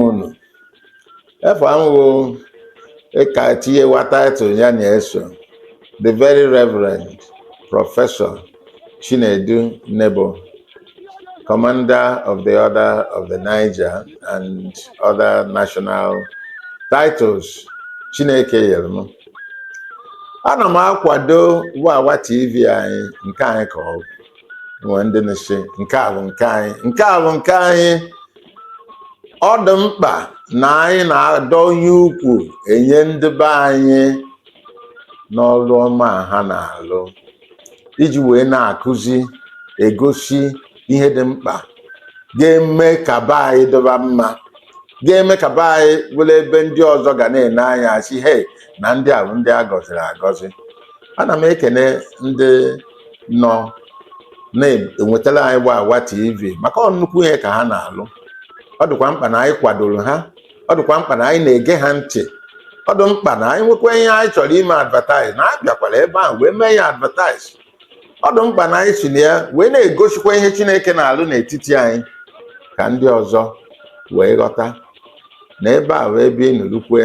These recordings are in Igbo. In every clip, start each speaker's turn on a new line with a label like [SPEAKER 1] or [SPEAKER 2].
[SPEAKER 1] unu efe ahụhụ ịka tinyewa title ya na-eso the very reverend professor chinedu nebo commander of the order of the niger and other national titles chineke nyere m ana m akwado wawa tv anyị nke anyị ka ọ bụ nwee ndị na-asị nke a bụ nke anyị nke a bụ nke anyị ọ dị mkpa na anyị na-adọnye ukwu enye ndị be anyị n'ọrụ ọma a ha na-alụ iji wee na-akụzi egosi ihe dị mkpa ga-eme ka be anyị dịba mma ga-eme ka be anyị bụrụ ebe ndị ọzọ ga na-ene anya sị hei na ndị a bụ ndị a gọziri agọzi ana m ekene ndị nọ na-ewetara anyị wawa tv maka ọ nnukwu ihe ka ha na-alụ ọ dịkwa mkpa na anyị kwadoro ha ọ dịkwa mkpa na anyị na-ege ha ntị ọ dị mkpa na anyị nwekwa ihe anyị chọrọ ime advertise na a bịakwara ebe ahụ wee mee ya advertise ọ dị mkpa na anyị si na ya wee na-egosikwa ihe chineke na-alụ n'etiti anyị ka ndị ọzọ wee ghọta na ebe a wụ ebe ịnụrụkwe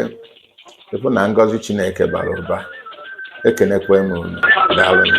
[SPEAKER 1] ịbụ na ngọzi chineke bara ụba ekenekwa m unu daalụnụ